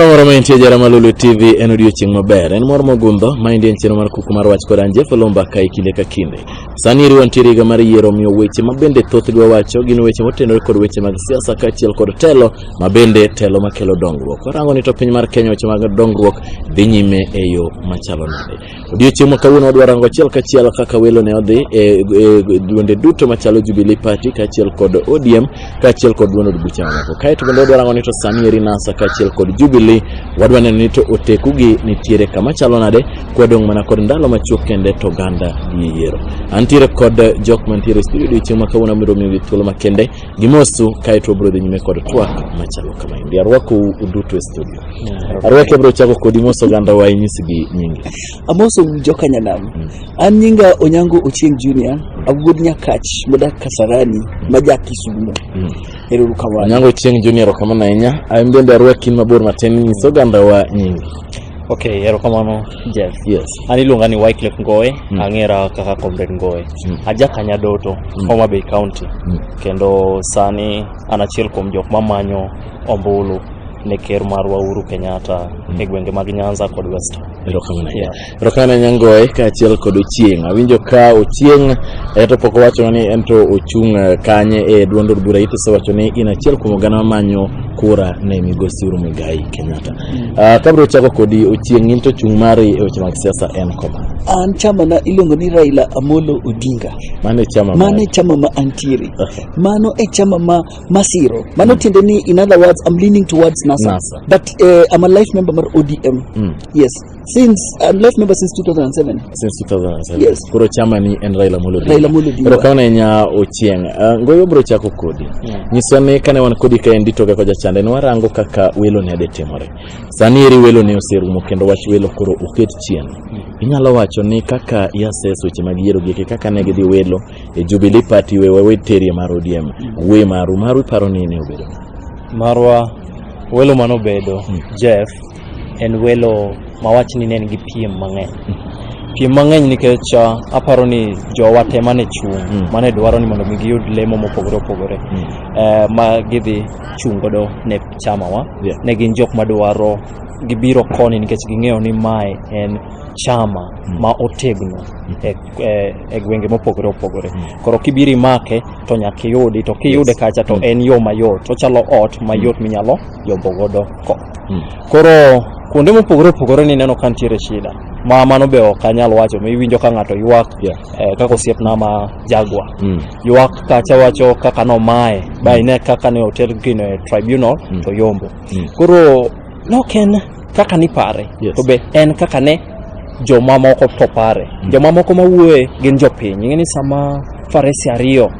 Moro ma intie jara malulu TV en odiochieng' maber en mor mogundho ma indien chiro mar kuku mar wach kod anje folomba ka kinde ka kinde sani iriwa ntiere higa mar yiero miyo weche ma bende thoth dwa wacho gin weche motenore kod weche mag siasa kaachiel kod telo ma bende telo makelo dongruok warango ni to piny mar Kenya weche mag dongruok dhi nyime e yo machalo nade Odiochieng' ma kawuono wadwa rango achiel kachiel kaka welo ne odhi e, e duonde duto machalo Jubilee Party kaachiel kod ODM kaachiel kod duond od bucha mamoko. Kaeto bende wadwa rango ni to sani eri NASA kaachiel kod Jubilee wadwa neno ni to otekugi nitiere kama chalo nade kwadong' mana kod ndalo machuok kende to ganda gi yiero. Antiere kod jok mantiere e studio odiochieng' ma kawuono abiro miyogi thuolo makende Gimosu kae to wabiro dhi nyime kod twak machalo kama endi. Arwakou uduto e studio. Arwaki abiro chako kodi mos oganda wa inyisgi nyingi. Amoso joka nyanam. An nyinga Onyango Ochieng Junior, awuod Nyakach modak Kasarani, ma ja Kisumo. Ero kamano. Onyango Chieng Junior kamano ahinya. An bende arwaki mabor matin nyis oganda wa nyingi. ok erokamano jeff yes an iluonga ni wyclef ngoe mm. ang'era kaka comrade ngoe mm. aja kanyadoto mm. homa bay county mm. kendo sani an achiel kuom jok mamanyo ombulu ne ker marwa uhuru kenyatta mm. e gwenge mag nyanza kod west erokamano yeah. erokamano nyangoe kaachiel kod ochieng awinjo ka ochieng eh, to pok owacho ni en to ochung eh, kanye e duond od bura itisewacho ni in achiel kuom oganda mamanyo kura ne migosi uhuru muigai kenyatta Ah, kabro chako kodi ochieng' in to chung' mari e weche mag siasa en koma an chama na iluongo ni raila amolo odinga mano e chama mano mari. e chama ma antiere Okay. mano e chama ma masiro mano tiende ni in other words i'm leaning towards nasa, NASA. but uh, i'm a life member mar odm Mm. yes Since uh, left member since 2007. Since 2007. Yes. Koro chama ni en Raila Amolo Odinga. Raila Amolo Odinga. Koro kaona nya Ochieng. Uh, ngoyo bro chako kodi. Yeah. Nyiso ni kane wan kodi ka endi toga koja chande ni warango kaka welo ne adetimore. Sani eri welo ne oserumo kendo wach welo koro oket chien. Mm. Inyalo wacho ni kaka iases weche mag yiero gike kaka ne gidhi welo e Jubilee Party we wewe terie mar ODM. Mm. We maru maru iparo ni ne obedo. Marwa welo manobedo mm. Jeff en welo ma wach ni ne en gi piem mang'eny piem mang'eny nikech ah, aparo ni jowa te mane chung' Mm. mane dwaro ni mondo mi giyud lemo mopogore opogore Mm. eh, ma gidhi chung' godo ne chamawa Yeah. ne gin jok madwaro gibiro koni nikech ging'eyo ni mae en chama Mm. ma otegno e, e, e gwenge mopogore opogore Mm. koro kibiro imake to nyaka iyudi to kiyude Yes. kacha to Mm. en yo mayot ochalo ot mayot minyalo yombo godo ko- Hmm. Koro kuonde mopogore opogore ni neno ka nitiere shida ma mano be ok anyal wacho ma iwinjo ka ng'ato ywak yeah. eh, kaka osiepna ma jagwa mm. ywak kacha wacho kaka nomaye mm. ba ine kaka ne oter gino e tribunal mm. to yombo mm. koro nok en kaka nipare yes. to be en kaka ne jomamoko to pare mm. jomamoko mawuoye gin jopiny ing'e ni sama farese ariyo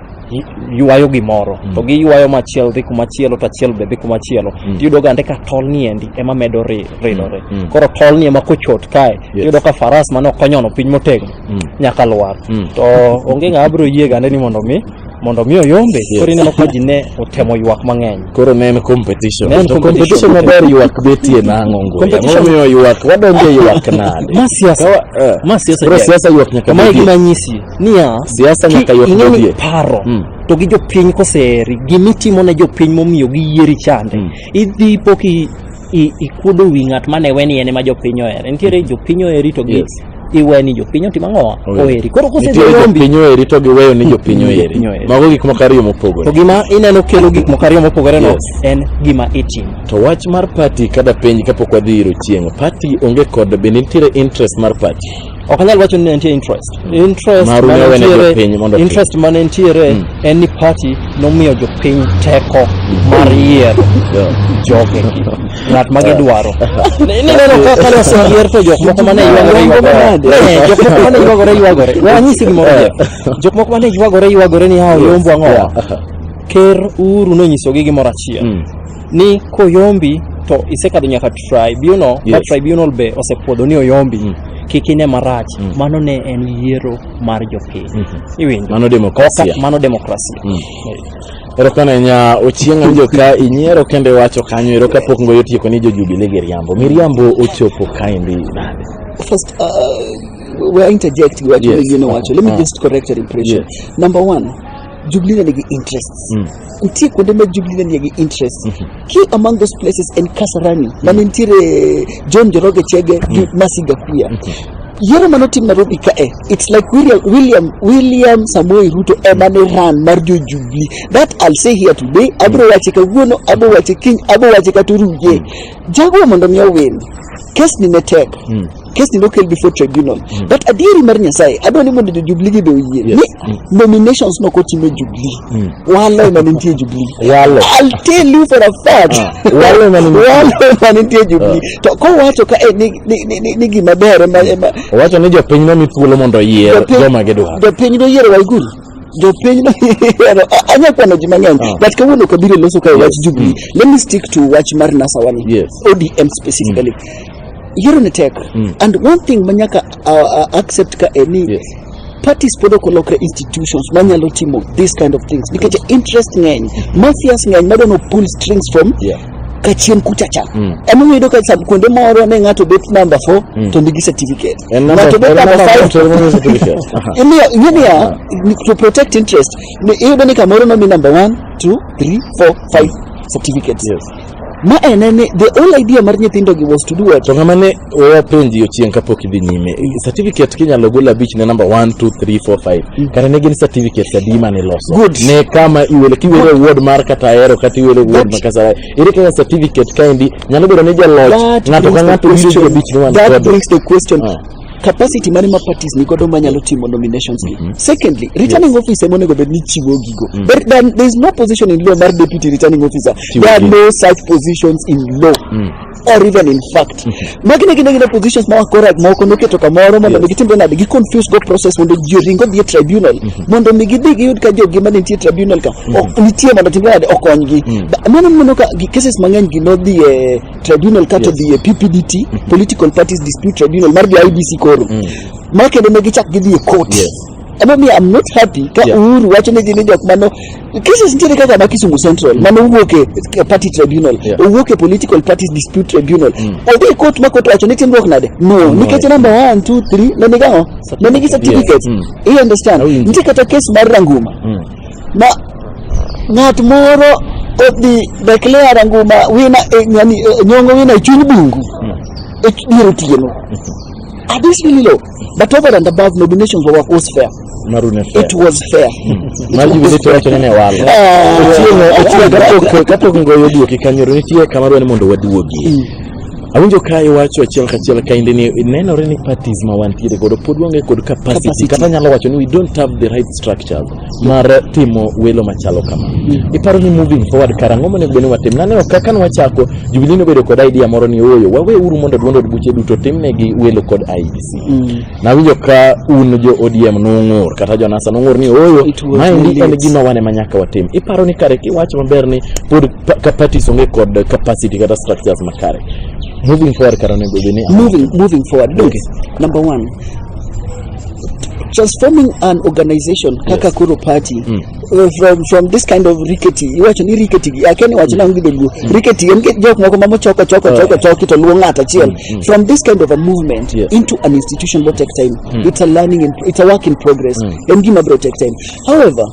ywayo gimoro mm. to giywayo machielo dhi kumachielo to achiel be dhi kumachielo mm. tiyudo gande ka tol ni endi ema medo ridore mm. mm. koro tol ni ema kochot kae yes. tiyudo ka faras mane okonyono piny motegno mm. nyaka lwar mm. to onge ng'ama biro yie gande ni mondo mi mondo mi oyombe yes. koro ineno ka ji ne otemo ywak mang'eny koro ne en competition ne en to competition maber ywak betie nang'o ngoya momiyo ywak wadonje ywak nade ma siasa eh. ma siasa koro siasa ywak nyaka ma gima nyisi niya Siasa ki- nyaka yot ing'e ni dodie. paro Mm. to gi jopiny koseheri gimitimo ne jopiny momiyo giyieri chande Mm. idhi po ki i- ikuodo wi ng'at mane weni en ema jopiny ohere nitiere jopiny oheri to gi Yes. iweni jopiny otimo ang'owa Oheri. oheri koro nitie kosedhi yombi jopiny oheri to giweyo ni jopiny oheri Jopiny oheri. mago gik moko ariyo to mopogore gima ineno kelo gik moko ariyo mopogore no Yes. en gima itimo to wach mar pati kada penj kapok wadhi iro chieng' pati onge kod be nitiere interest mar pati ok anyal wacho ni nitie interest interest Maru mane wene mantiere- jopiny mondo otim. interest mane nitiere Mm. en ni party nomiyo jopiny teko mar yiero jogegi ng'at ma gidwaro Ni- nineno ka kane oseyier to jok moko mane ywagore ywagore Eh, jok moko mane ywagore ywagore we anyisi gimoro Jeff. jok moko mane ywagore ywagore ni hawo yombo ang'o Yeah. ker uru nonyisogi gimoro achiel Mm. ni koyombi to isekadho nyaka tribunal yes. yes. tribunal be osepuodho ni oyombi mm. kik ine marach mm. mano ne en yiero mar jopiny mm -hmm. iwinjo mano demokrasia mano demokrasia mm. erokamano nya ochieng' anjo ka inyiero kendo iwacho kanyo ero kapok ngoyo otieko ni jojubile gi riambo miriambo ochopo kaendi nade first uh, we're interjecting we're yes. you know, okay. let me uh, just correct your impression yes. number one jubilee nigi interests mm. kutie kuonde ma Jubilee ne nie gi interest. Ki among those places en Kasarani ma ne nitiere John Njoroge Chege gi Mercy Gakuya. Yiero mane otim Nairobi kae, it's like William, William, William Samoei Ruto ema ne ran mar jo Jubilee. That I'll say here today, abro wache kawuono, abro wache kiny, abro wache kata oruje. Jago mondo mi owin. Kes ni ne tek. kesni nokel before tribunal mm. but adieri mar nyasaye adwa ni mondo jojubli gi be oyie yes. ni mm. nominations nok otim e jubli mm. walo ema nitie e jubli walo i'll tell you for a fact ah. walo ema nitie walo ema nitie e jubli ah. to kowacho ka eh, ni ni ni, ni, ni gima ber ema ema owacho ni jopiny no mithuolo mondo oyier joma gidwaro jopiny no yiero waiguru jopiny noyiero anya kwano ji mang'eny ah. but kawuono kabiro loso kae wach jubilee mm. let me stick to wach mar nasawani yes. odm specifically mm. yiero ne tek mm. and one thing ma nyaka uh, uh, accept ka en ni yes. parties pod ok olokre institutions manyalo timo this kind of things nikech yes. interest ng'eny mafias ng'eny madwano pull strings from yeah kachien kuchacha mm. ema uyudo ka kuonde moro ne ng'ato bet number four mm. to nigi certificate ng'ato bet number five imiyo ing'eniya ah. to protect interest iyudo ni kamoro nomi number one two three four five certificates yes. Ma en ni the whole idea mar nyithindo gi was to do what? To ng'ama ne wapenji ochieng' kapok idhi nyime, certificate kinyalo gol abich ne namba 1 2 3 4 5. Kare ne gin certificates adi ma niloso? Good. Ne kama iwele kiwele ward mar kata ahero kata iwele ward ma kasara. Ere kaka certificate kaendi nyalo bedo ni jaloch That ng'ato ka brings the ng'ato biro gi question- abich ni wan That kodo. brings the question, Ah. capacity mane ma parties ni godo manyalo timo nominations gi. Mhm. Secondly, returning officer ema onego bed ni chiwo gigo. Mm. There, there, there is no position in law mar deputy returning officer. Chiwo There are gigo. no such positions in law. Mm. or even in fact magi ne gin gin positions ma wakora moko noketo kamoro mondo mi gitimre nade gi confuse go process mondo ji oring odhi e tribunal mondo mi gidhi giyud ka jogi ma nitie e tribunal ka ok nitie mondo timre nade okonygi Ba- mano mano ka gi- cases mang'eny gi nodhi e tribunal kata yes. dhie PPDT mm -hmm. political parties dispute tribunal mar dhie IBC koro mm. ma kendo ne gichak gidhie court yes. Emomiyo I'm not happy ka yeah. Uhuru wacho ni gin jok mano cases nitiere kaka ma Kisumu Central mm. mano owuok e party tribunal yeah. owuok e political parties dispute tribunal mm. odhi e court ma court wacho ni timruok nade no, no nikech number 1 2 3 ne nigi ang'o ne nigi certificate yes. mm. you understand oh, nitie kata case mar Ranguma mm. na ng'at moro odhi declare nguma wina eh, yani, eh, nyongo wina e chuny bungu e ch- dier otieno are this really low but over and above nominations were was fair marune fair it was fair mar jubilate wacho ni ne walo Ah, Otieno- ah, otieno ah, kapok- kapok ngoyo duoki kanyoro nitie kama dwa ni mondo waduogie Awinjo ka iwacho achiel kachiel kaendi ni nenore ni parties ma wantiere godo pod waonge kod capacity Capacity. kata nyalo wacho ni we don't have the right structures mar timo welo machalo kama. Iparo ni moving forward kara ang'o monego bed ni watim? Naneno ka kane wachako Jubilee nobedo kod idea moro ni ooyo wawe uru mondo duond od buche duto timnegi welo kod IEBC. Nawinjo ka un jo ODM nung'ur kata jo NASA nung'ur ni oyo maendi en gima wane ma nyaka watim. Iparo ni kare kiwacho maber ni pod ka parties onge kod capacity kata structures makare. Moving forward kara onego bed ni moving moving forward look okay. number one transforming an organization kaka yes. koro party mm. uh, from, from this kind of rickety iwacho ni rickety gi akia ni wachna onge dholuo rickety en ke- jok moko mamo choko choko choko choki to luwo ng'ato achiel from this kind of a movement Yes. into an institution will take time it's a learning in, it's a work in progress en gima bro take time however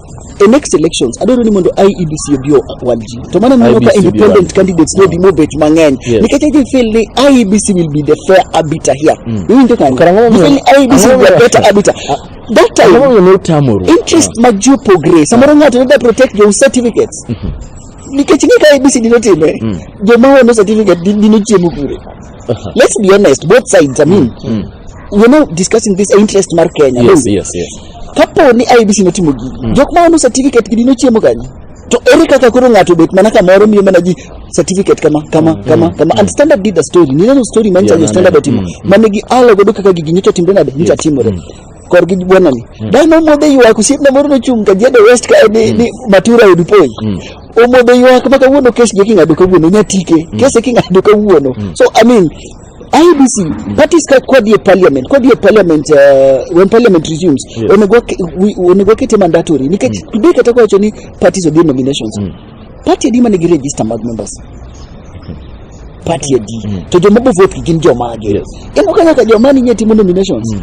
e next elections adwaro ni mondo IEBC obi o- walji to mano miyo ka IEBC obi independent walji. candidates nodi mobet mang'eny Yes. nikech I feel ni IEBC will be the fair arbiter here iwinjo kare Karang'o You feel ni momiyo- IEBC will be a ang'o momiyo- better arbiter that time Ang'o momiyo ne utamoru? interest mag ji opogre samoro ng'ato ne da protect jo certificates nikech ng'e ka abcd notime joma ono certificate di- dino chiemo kure Aha. let's be honest both sides i mean Mm. we're not discussing this interest mar kenya Yes, no? yes, yes. kapo ni ibc notimo gigi jok ma ono certificate gi dino chiemo kanye To ere kaka koro ng'ato obet mana kamoro miyo mana ji certificate kama kama kama kama and standard did a story ni neno story man Yeah, chanyo standard naneno. otimo Mm. mane gi alo godo kaka gigi nyocha timre nade nyocha Yes. timore Mm. kor gi bwana ni dano omodhe ywak osiepna moro nochung' ka jade west ka ni, ni matura odupoi Mm. omodhe ywak ma kawuono kes gi king'ado kawuono nyatike kese king'ado kawuono so i mean IBC mm. parties ka kwa die parliament kwa die parliament uh, when parliament resumes yes. onegwa onegwa kete mandatory nikech mm. today kata kwa choni parties of the nominations mm. party adi mane gi register mag members mm. party adi mm. to jomabo vote gin jomage yes. emo kaka jomani nyetimo nominations mm.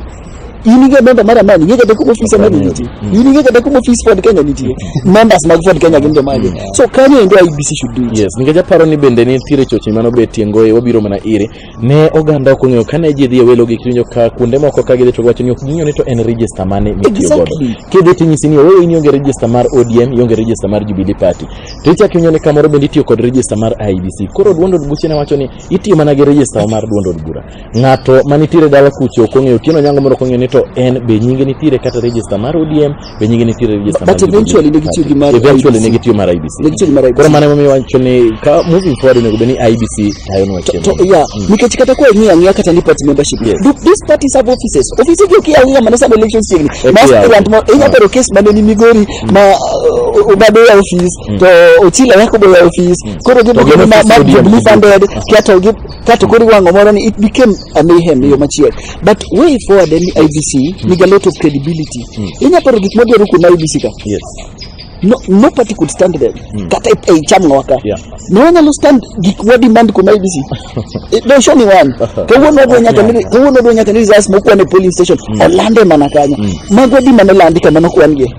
in ing'e memba mar amani ing'e kata kuma ofis amani nitie in ing'e kata kuma ofis ford kenya nitie members mag ford kenya gin jomage so kanyo endo ibc should do it yes nikech aparo ni bende nitiere choche mano be tiengoe wabiro mana ire ne oganda ok ong'eyo kane ji dhi e welo gi kiwinjo ka kuonde moko ka gidhi to wacho ni ok ging'eyo ni to en register mane mitiyo godo Exactly. kidhi tinyisi ni oweyo in ionge register mar odm ionge register mar jubilee party to ichak iwinjo ni kamoro bende itiyo kod register mar ibc koro duond od buche ne wacho ni itiyo mana gi register mar duond od bura ng'ato manitiere dala kucho ok ong'eyo Otieno Onyango moro ok ong'eyo ni to en be nyinge nitiere kata register mar ODM be nyinge nitiere register But mar eventually ne gitiyo gi mar eventually IEBC. ne gitiyo mar IBC Ne gitiyo gi mar IEBC. koro mano emomiyo wacho ni ka moving forward onego bed ni IBC tayonwa to chenro yeah nikech kata kwa ing'eyo ang'eya kata ni party membership Yes. do these parties have offices offices gi okiya ang'eya mana sama elections chiegni Okiya. ma aspirant ma inya bero case mane ni migori ma uh, obado ya office to ochila yako boya office koro gi To gin ma office ma ODM. jubilee funded kia to gi kato kori wang'o moro ni it became a mayhem e yo machielo but way forward en ni IBC mm. niga lot of credibility mm. inya paro gik modwaro kuom IBC ka yes no, no party could stand them mm. kata ei cham ng'oka yeah. ne wanyalo stand gik wa demand kuom IBC don't show me one kawuono odwa nyaka ni kawuono odwa nyaka ni results mokwan e polling station mm. olande mana kanyo mm. magwa di mana landi kama nokwan gi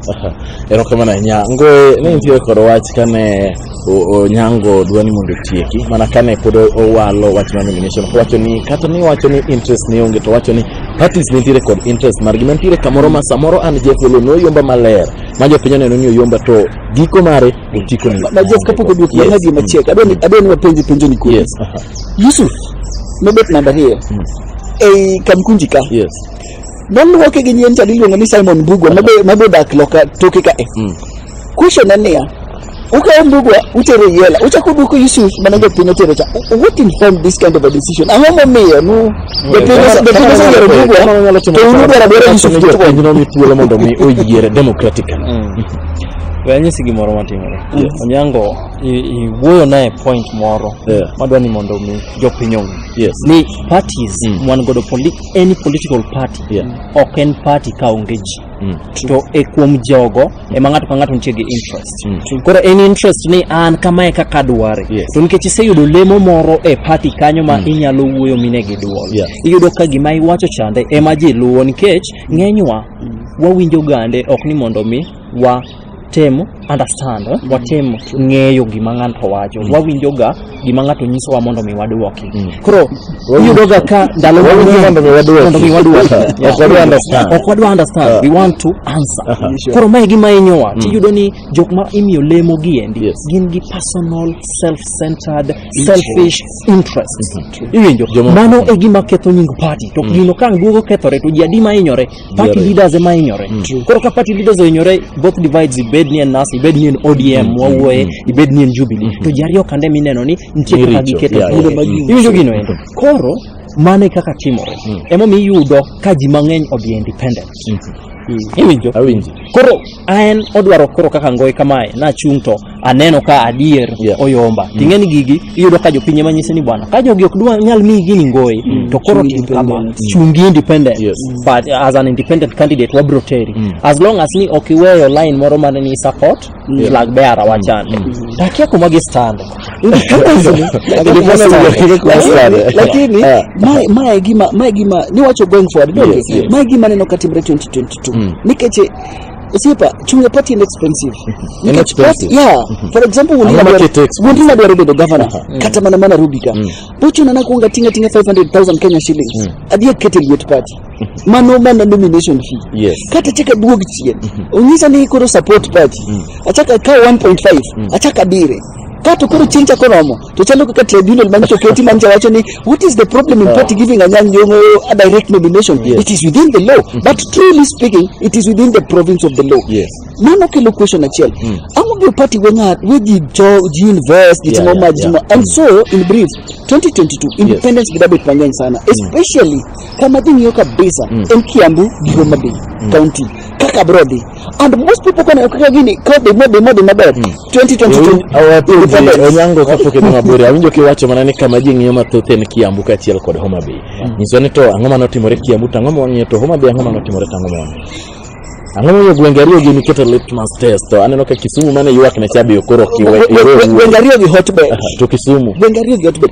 erokamana nya ngoe ne nitie koro wach kane Onyango dwa ni mondo otieki mana kane pod owalo wach mar nomination kowacho ni kata ni wacho ni interest ne onge to wacho ni parties nitiere kod interest margi mantiere kamoro ma samoro an Jeff Olo noyomba maler ma jopiny oneno ni oyomba to giko mare otiko ni na Jeff kapok oduoki yes. nadi machiek adwa ni adwa ni wapenje penjo ni kodi yes. uh -huh. Yusuf mebet namba hiyo mm. ei Kamkunji ka yes. noluoke gi nyien chadi iluongo ni Simon Bugwa mabe mabe dak loka toke ka e mm. question en niya ukawo mbugwa utero yela uchako duoko yusuf mana jopiny otero cha what informed this kind of a decision ang'o momiyo nu jopiny ose- jopiny osegero mbugwa to unu dwara dwara yusuf jo jopiny nomi thuolo mondo mi oyiere democratically we anyisi gimoro matimore Yes. onyango i- iwuoyo naye point moro Yeah. madwa ni mondo mi jopiny ong'e yes ni parties Mm. mwan godo poli- any political party Yeah. ok en party ka onge ji Mm. to e kuom jogo ema ng'ato ka ng'ato nitie gi interest Mm. koro en interest ni an kamae kaka adware Yes. to nikech iseyudo lemo moro e party kanyo ma inyalo wuoyo mine gi duol Yeah. iyudo ka gima iwacho chande ema ji luwo nikech ng'enywa wawinjo gande ok ni mondo mi wa tem understand eh? watem ng'eyo gima ng'ato wacho mm. wawinjoga gima ng'ato nyisowa mondo mi wadwoki mm. koro iyudoga ka ndalo mondo mi wadwoki ok wadwa understand ah. we want to answer ah, ah. koro mae gima inyowa mm. tiyudo ni jok ma imiyo lemo gi endi gin gi personal self centered selfish interest mm-hmm. iwinjo mano e gima ketho nying party to gino ka duogo kethore to ji adi ma inyore party Yiero. leaders ema hinyore koro ka party leaders ohinyore both divides ibed ni en nas ibed ni en odm wawuoye ibed ni en jubilee to ji ariyo kande mineno ni nitie Ni kaka richo. giketo Yeah, thuolo yeah, mag yeah. iwinjo gino endo koro mano e kaka timore emomiyo iyudo ka ji mang'eny odhi e independent iwinjo Awinji. koro an odwaro koro kaka ngoyi kamae nachung' to aneno ka adier Yeah. oyomba ting'e ni gigi iyudo ka jopiny ema nyise ni bwana ka jogi ok dwa nyal miyi gini ngoyi to koro Chungi tim kama independent. chungi independent Yes. but as an independent candidate wabro teri as long as ni ok iweyo line moro mane ni support flag bearer wachande takia kuma gistande lakini Ah. mae- mae gima mae gima niwacho going forward donge? Yes, yes. mae gima neno katimre 2022 nikech eh, osiepa chunga party en expensive En Nikech expensive. party- yeah for example wuondi Ang'o nadwaro- makete expensive? wuondi nadwaro bedo governor kata mana mana rubika bochuna nakuonga tinga tinga 500000 kenya shillings adhi akete liet party mano mana nomination fee Yes. kata chaka duog chien onyisa ni koro support party achaka kaw 1.5 achaka dire kato koro chieng' chako romo To chalo kaka tribunal manyiso oketi manyiso wacho ni what is the problem in party giving Anyang' Nyong'o a direct nomination? Yes. It is within the law. But truly speaking, it is within the province of the law. Yes. Mano kelo question achiel. Mm. Ang'o gi party we ng'at we ji jo ji invest ji Yeah, timo yeah, ma ji yeah. timo. And so in brief 2022 independence yes. dabet mang'eny sana especially kama ji ng'iyo kabisa en Kiambu gi Homa Bay county kaka bro dhi and most people kane okaka gini ka dhi modhi modhi maber 2022 onyango kapok idhi mabor awinjo kiwacho mana ni kama ji ng'iyo mathoth en kiambu kaachiel kod homa bay nyiswa ni to ang'o ma notimore kiambu to ang'o ma wang'iyo to homa bay ang'o ma notimore to ang'o ma wang'iyo ang'o momiyo gwenge ariyo gi niketo litmus test to aneno ka kisumu mane ywak ne chabi okoro kiwe iwe gwenge ariyo gi hotbed to kisumu gwenge ariyo gi hotbed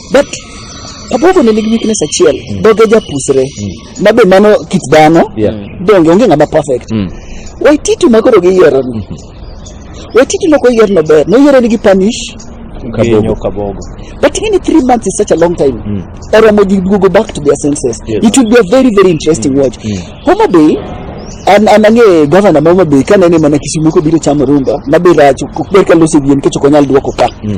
but Kabogo ne nigi weakness achiel mm. doge japusre mm. ma be mano kit dhano yeah. donge onge ng'ama perfect mm. Waititu ma koro giyiero ni mm -hmm. Waititu no koyier no ber noyiero ni gi punish Kabogo. Kabogo. But even three months is such a long time. Mm. Oromo did go back to their senses. Yes. It would be a very very interesting mm. watch. Mm. Homa Bay an an ang'e gavana ma Homa Bay ka nene mana Kisumu kobiro chamo rumba ma be rach ok ber ka lose wien kech ok onyal duoko ka. Mm.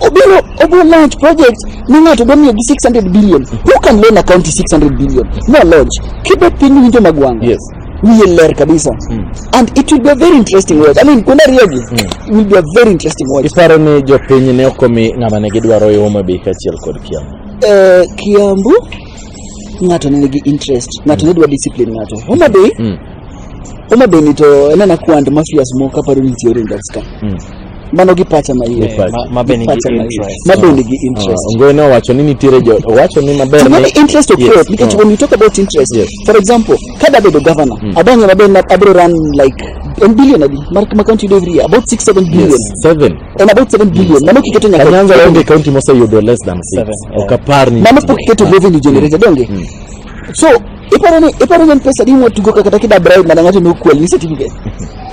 obiro obiro launch project ma ng'ato dwa miyo gi 600 billion who can loan a county 600 billion no launch kibet piny winjo magwang Yes. wiye ler kabisa and it will be a very interesting watch i mean kuonde ariyogi will be a very interesting watch Iparo ni jopiny ne ok omi ng'ama ne gidwaro yo Homa Bay kaachiel kod Kiambu. Eh, kiambu ng'ato ne nigi interest ng'ato ne dwa discipline ng'ato homa bay Mm. homa bay ni to enana kwand mafias moko kaparo ni theory in that sky Mm. mano gi pacha ma iye Eh, ma- ma be nigi Pacha ma iye. interest. ma be nigi interest Ah, Ngoy ne owacho ni nitiere jo owacho ni maber to mano interest of Yes, growth because ah. when you talk about interest Yes. for example kada bedo governor adonge maber na abro run like en billion adi mar ma county yudo every year about 6 7 billion Yes, seven. en about 7 billion mano kiketo nyaka Kanyanza onge kaunti moseyudo less than six. Seven, yeah. Ok apar ni mano pok iketo revenue generated donge so Iparo ni iparo ni en pesa di mwatugo kata kida bribe mana ng'ato nokwel ni certificate.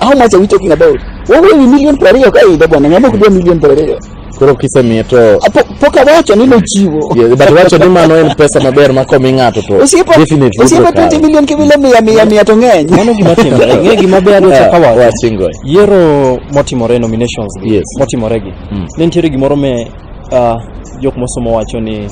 How much are we talking about? Wawuoyo ni million piero ariyo ka idho bwana, ng'ama ok dwa million piero ariyo. Koro kisemiye to Ah, po- Pok awacho ni nochiwo. Yeah, but wacho ni mano en pesa maber ma komi ng'ato to Osiepa definitely osiepa bro, 20 million kibile mia mia mia to ng'eny. Mano gima timore. Ng'e gima be adwa chaka wacho. Wachingo. Yiero motimore nominations gi Yes. motimore gi. Mm. Ne nitiere gimoro me uh, jok mosomo wacho ni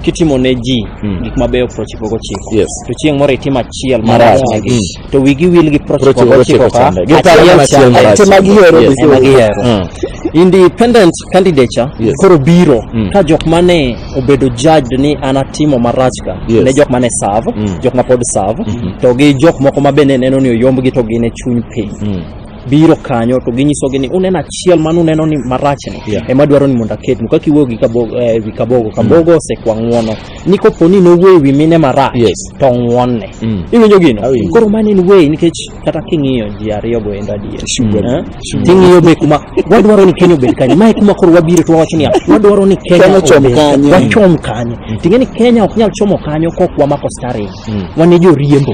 kitimo ne ji Mm. gik mabeyo prochiko gochiko Yes. to chieng' moro itim achiel Marach. marachnegi Mm. to wigi wil gi prochiko Prochiko gochiko gochiko ka chande. Giparo achiel mana achiel chande. marach. Ema gihero Yes. Ema gihero. Mm. independent candidature Yes. koro biro Mm. ka jok mane obedo judged ni an atimo marach ka Yes. ne jok mane serve Mm. jok ma pod serve to gi jok moko ma bende neno ni oyombgi to gin e chuny piny Mm. biro kanyo to ginyisogi ni uneno achiel mane uneno ni marachni Yeah. ema dwaro ni mondo aketnu kaka iwuoyo gi kabogo, eh, wi kabogo kabogo osekwa ng'uono ni kopo ni nowuoyo wi mine marach Yes. to ng'uonne Mm. iwinjo gino Awinjo. koro mano en way nikech kata king'iyo ji ariyo go endo adier Sugar. Eh? Sugar. ting'iyo be kuma wadwaro ni kenya obed kanye mae kuma koro wabiro to wawacho niya wadwaro ni kenya Kenya ochom obed- kanye. wachom kanye ting'e ni kenya ok nyal chomo kanyo kok wamako staring Mm. wan e joriembo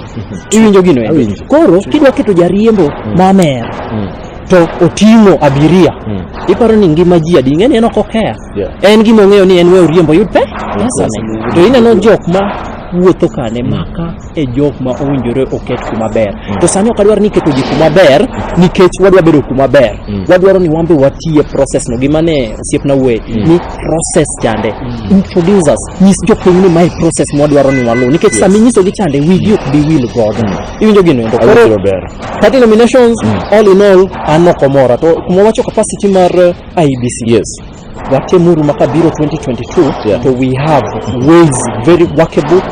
iwinjo gino endo? Awinjo. koro kidwa keto jariembo mamer Mm. to oting'o abiria Mm. iparo ni ngima ji adi ing'e ni en ok okeya Yeah. en gima ong'eyo ni en we oriembo oyud pe pesane to ineno jok ma wuotho kane maka e jok ma owinjore oket kuma ber to sani ok adwar ni iketo ji kuma ber nikech wadwa bedo kuma ber Mm. wadwaro ni wan be watiye process no gima ne osiepna we ni process chande introduce us nyis jopiny ni mae process mwadwaro ni waluw nikech yes. sama inyisogi chande wigi ok bi wil godo mm. iwinjo gino endo koro party nominations mm. all in all an ok omora to kuma wacho capacity mar uh, eh, IBC yes watemuru maka biro 2022 yeah. to we have ways very workable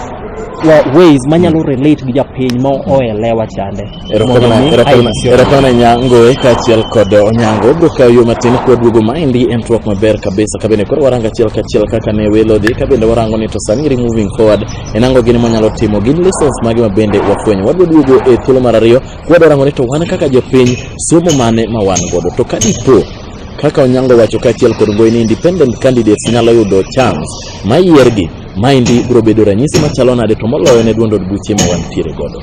ways manyalo mm. relate gi japiny ma oelewa chande Erokamana Nyangoe kaachiel kod Onyango bro kawo yo matin kwaduogo maendi en twak maber kabisa kabende koro warango achiel kachiel kaka ne welo dhi kabende warango ni to sani ri moving forward en ango gini mwanyalo timo gin lessons mage mabende wafwenyo wadwa duogo e thuolo mar ariyo kwadwa rango ni to wan kaka jopiny somo mane ma wan godo to kadipo kaka Onyango wacho kaachiel kod Ngoyi ni independent candidates nyalo yudo chance mayiergi maendi biro bedo ranyisi machalo nade to moloyo ne duond od buche ma wantiere godo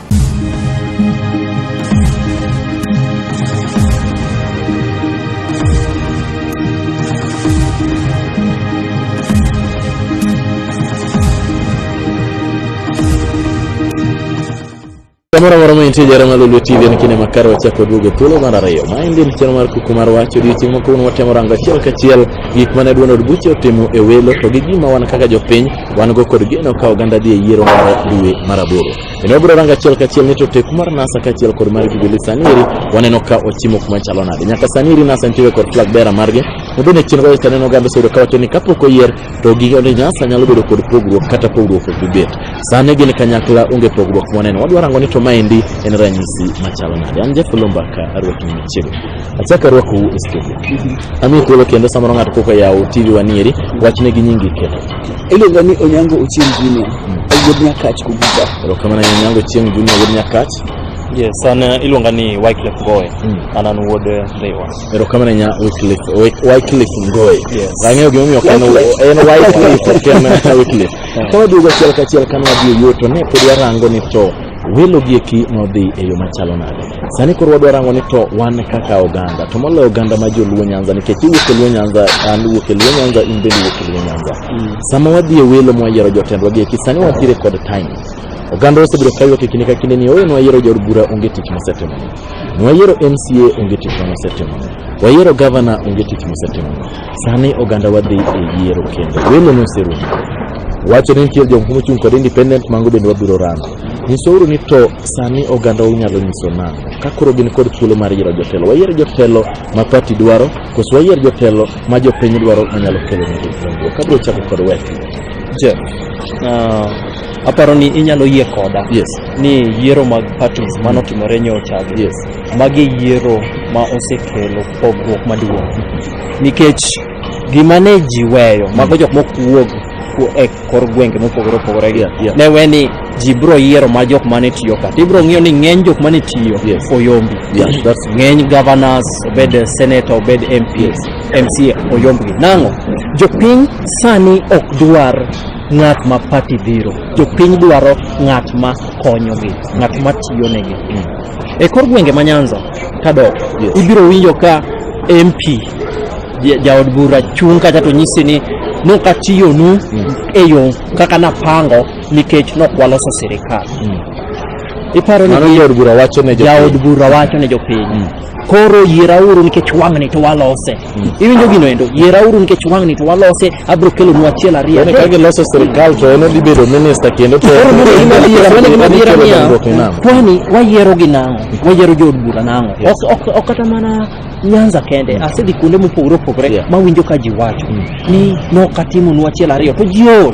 Kamoro moro ma intie jara malulu TV en kinde makare wachako duogo e thuolo mar ariyo. Ma en din chano mar kuku mar wach odiochieng' ma kawuono watemo rango achiel kachiel gik mane Duond od buche otimo e welo to gi gima wan kaka jopiny wan go kod geno ka oganda dhi e yiero mar dwe mar aboro. Kendo wabiro rango achiel kachiel ni to teku mar NASA kaachiel kod mar Jubilee sani eri waneno ka ochimo kuma chalo nade. Nyaka sani eri NASA nitiere kod flag bearer margi ma bende chien kocha taneno oganda oseyudo kawacho ni kapok oyier to gige ni NASA nyalo bedo kod pogruok kata pogruok ok bibet. Sani gin kanyakla onge pogruok mwaneno. Wadwa rango ni to maendi en ranyisi machalo nade. An Jeff Olomba ka arwaki ni machiegni. Achak arwakou e studio. Ami thuolo kendo samoro ng'ato koko yawo TV wanieri wachne gi nyingi kendo. Iluonga ni Onyango Ochieng Junior. Wuod Nyakach Kubuta. Erokamano ahinya Onyango Ochieng Junior wuod Nyakach. Yes, an uh, iluonga ni Wycliffe Ngoe. Mm. An an wuod uh, Rewa. Erokamano ahinya Wycliffe Wy- Wycliffe Ngoe. Yes. Ang'eyo gima omiyo ok en en Wycliffe ok en Wycliffe. Ka waduogo achiel kachiel kane wadhi e yuto ne pod warango ni to welo gi eki nodhi e yo machalo nade sani koro wadwa rango ni to wan kaka oganda to moloyo oganda ma joluo nyanza nikech iwuok e luo nyanza an wuok e luo nyanza in bende iwuok e luo nyanza mm. sama wadhi e welo mwayiero jotendwa gi eki sani wantiere kod time oganda osebedo kayuak e kinde ka kinde ni oyo nwayiero jaod bura onge tich mosetimo nwayiero mca onge tich manosetimo wayiero gavana onge tich mosetimo Sani oganda wadhi e yiero kendo welo noserumo. Wacho ni nitiere jomoko mochung' kod independent mango bende wabiro rango. Nyisouru ni to sani oganda unyalo nyiso nang'o ka koro gin kod thuolo mar yiero jotelo. Wayier jotelo ma pati dwaro koso wayier jotelo ma jopiny dwaro manyalo kelo negi dongruok. Abiro chako kod weti. Jeff, ah, aparo ni inyalo yie koda Yes. ni yiero mag parties manotimore nyocha gi Yes. magi yiero ma osekelo pogruok maduong' nikech gima ne ji weyo mago jok mok wuog ku- e kor gwenge mopogore opogore gi Yeah, yeah. ne we ni ji biro yiero ma jok mane tiyo ka to ibiro ng'iyo ni ng'eny jok mane tiyo Yes. oyombi Yeah, that's- ng'eny governors obed senator obed mps mca oyombgi nang'o jopiny sani ok dwar ng'at ma pati dhiro jopiny dwaro ng'at ma konyogi ng'at ma tiyonegi E kor gwenge ma Nyanza kadok Yes. ibiro winjo ka MP ja- jaod bura chung' kacha to nyisi ni nokatiyonu e yo kaka napango nikech nokwaloso sirikal. Iparo ni Mano gi- jaod bura wacho ne jaod jopiny. bura wacho ne jopiny koro yierauru nikech wang'ni to walose Iwinjo gino endo? Yierauru nikech wang'ni to walose, abiro kelonu achiel ariyo. Yaani ka giloso sirkal to en odhi bedo minister kendo to Koro mano gima adiera, mano gima adiera Kelo niya, dongruok e nam. kwani wayiero gi nang'o? Wayiero jood bura nang'o? Yes. Ok- ok- Ok kata mana Nyanza kende, asedhi kuonde mopogore opogore Yeah. mawinjo ka ji wacho ni nok atimonu achiel ariyo to ji ool.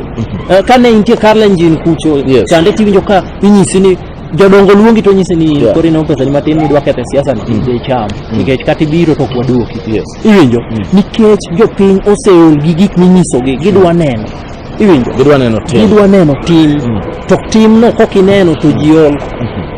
Eh, Kane intie Kalenjin kucho Yes. chande tiwinjo ka inyisi ni jodongo luongi to nyisi ni Yeah. koro ineno pesani matin midwa ketho e siasa ni idhi icham nikech kata ibiro to ok waduoki Yes. iwinjo nikech jopiny oseol gi gik minyisogi gidwa neno iwinjo Gidwa neno tim. gidwa neno tim to timno kok ineno to ji ol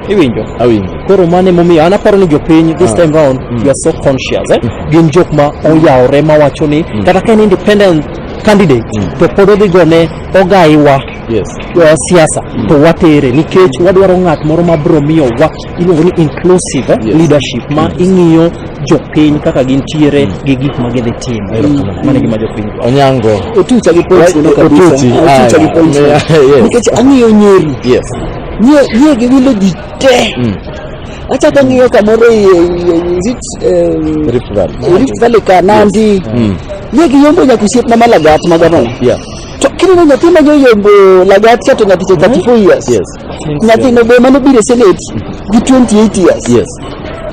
iwinjo Awinjo. koro mano emomiyo an aparo ni jopiny this time round you are so conscious eh? gin jok ma oyawore mawacho ni kata ka en independent candidate to pod odhi gone ogaiwa yes. uh, siasa mm. to watere nikech mm. wadwaro ng'at moro ma bro miyo wa iluongo ni inclusive yes. leadership ma yes. ing'iyo jopiny kaka gintiere mm. gi gik ma gidhi timo mm. mane gima jopiny onyango otucha gi points no kabisa otucha gi points nikech ang'iyo nyeri yes nie nie gi wilo ji te mm. achako ng'iyo kamoro e, e, e, is it um, Rift Valley Rift Valley ka Nandi mm. nie gi yombo nyaka osiepna malagat ma gavana yeah To kineno nyathi ma nyoyombo lagatia to nyathi cha 34 years. Yes. Nyathino be mano biro e Senate gi 28 years. Yes.